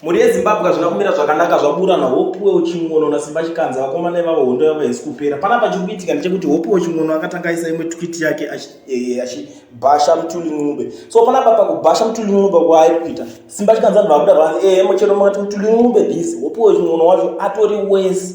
Mhuri yeZimbabwe hazvina kumira zvakanaka zvaburana Hopuwe Uchimwono naSimba Chikanza vakomana ivavo hondo yavo haisi kupera. Panapa chiri kuitika ndechekuti Hopuwe Uchimwono akatanga aisa imwe tweet yake eh, achibhasha Mtuli Ncube. So panapa pakubhasha Mtuli Ncube kwaari kuita Simba Chikanza vanhu vakuda vanzi eh mochero makati Mtuli Ncube this Hopuwe Uchimwono wacho atori worse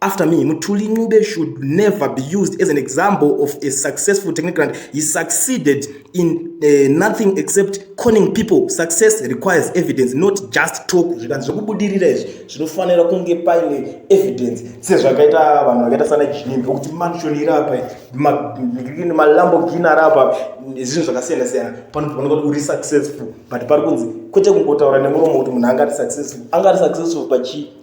after me mutuli ncube should never be used as an example of a successful technocrat he succeeded in uh, nothing except conning people success requires evidence not just talk zvikanzi zvekubudirira izvi zvinofanira kunge paine evidence sezvakaita vanhu vakaita sana jimbi okuti mansion iri apa malambogini ari apa zvinhu zvakasiyana siyana panofanira kuti uri successful but pari kunzi kwete kungotaura nemuromo kuti munhu anga ari successful anga ari successful pachii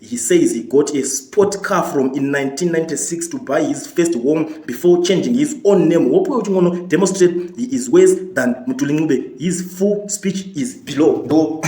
He says he got a sport car from in 1996 to buy his first home before changing his own name. Hope you want demonstrate he is worse than Mutulinube. His full speech is below. Do.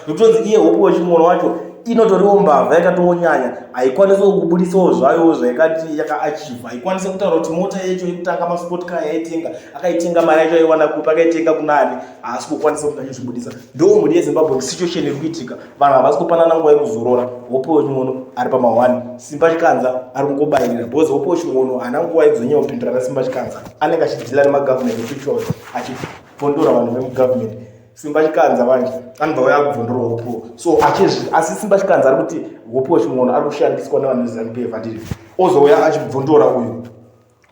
Because here, hope you want to inotoriwo mbavha yakatonyanya haikwanisi kubudisawo zvayo zvaikati yakaachiva haikwanisi kutaura kuti mota yacho yekutanga masport car yaitenga akaitenga mari yacho aiwana kupi akaitenga kunani haasi kukwanisa kuti achizvibudisa ndo mhuri yezimbabwe situation iri kuitika vanhu havasi kupanana nguva yekuzorora hope wechingono ari pamahwani simba chikanza ari kungobayirira bhozi hope wechingono haana nguva yekuzonyanya kupindura na simba chikanza anenge achidhila nemagovernment officials achipondora vanhu vemugovernment simba chikanza vanje anobva vaya kubvondora hope so achizvi asi simba chikanza ari kuti hope wechingono ari kushandiswa nevanhu vezimbabwe vandiri ozouya achibvondora uyu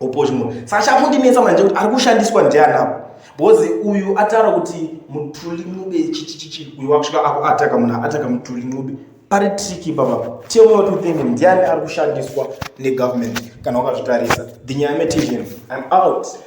opochimo saka chakundinetsa manje kuti ari kushandiswa ndianapo bhozi uyu ataura kuti mutuli nube chichichichi uyu wakusvika akuataka munhu aataka mutuli nube pari triki baba tell me what you think ndiani ari kushandiswa negovernment kana wakazvitarisa the nyaya metizim im out